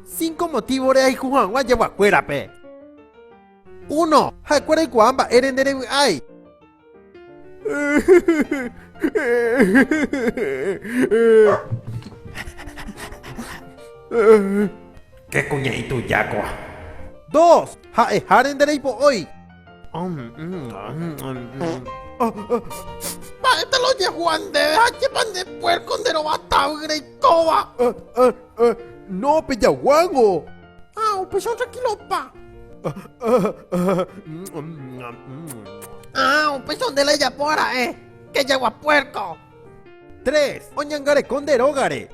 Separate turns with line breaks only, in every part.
Cinco motivo reayhu haguã jeguakuérape. Uno, ha'ekuéra oikuaa mba'ére nde revy'ái. Ke kuña itujákua. Dos, ha'eháre nde reipo'ói. Mba'épa la ojehúva ndéve ha chépa nde puérko nde rova tavy reikóva? No, pejaguágo. Ha upéicha otrankilopa. Ha upéicha nde la ejapo ara'e, kejagua puérko. Tres, oñangareko nde rógare.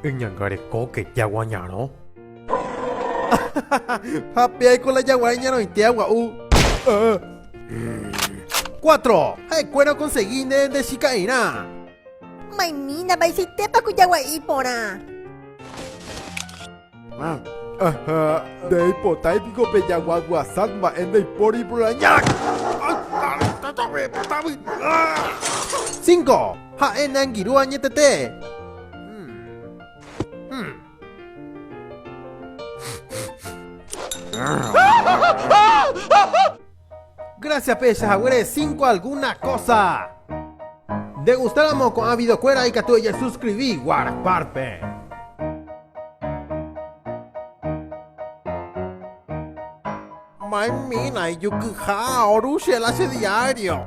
Eñanga rekóke, jagua ñarõ. Ha péaiko la jagua iñarõite agua'u. Cuatro, ha'ekuéra okonsegi nde ndechika'irã. Maymína, vaicháitépa ko jagua'i iporã. Aha, ndeipotái piko pe jagua guasat mba'e ndeipóri iproraña. Cinco, ha'e neangirũ añetete. Hum. Hum. Gracias pehecha haguére cinco alguna cosa. Nde gustáramo ko'ã videokuéra ikatu ejesuskrivi Whatsappárpe. Maymina ijukyha oru che la che diario.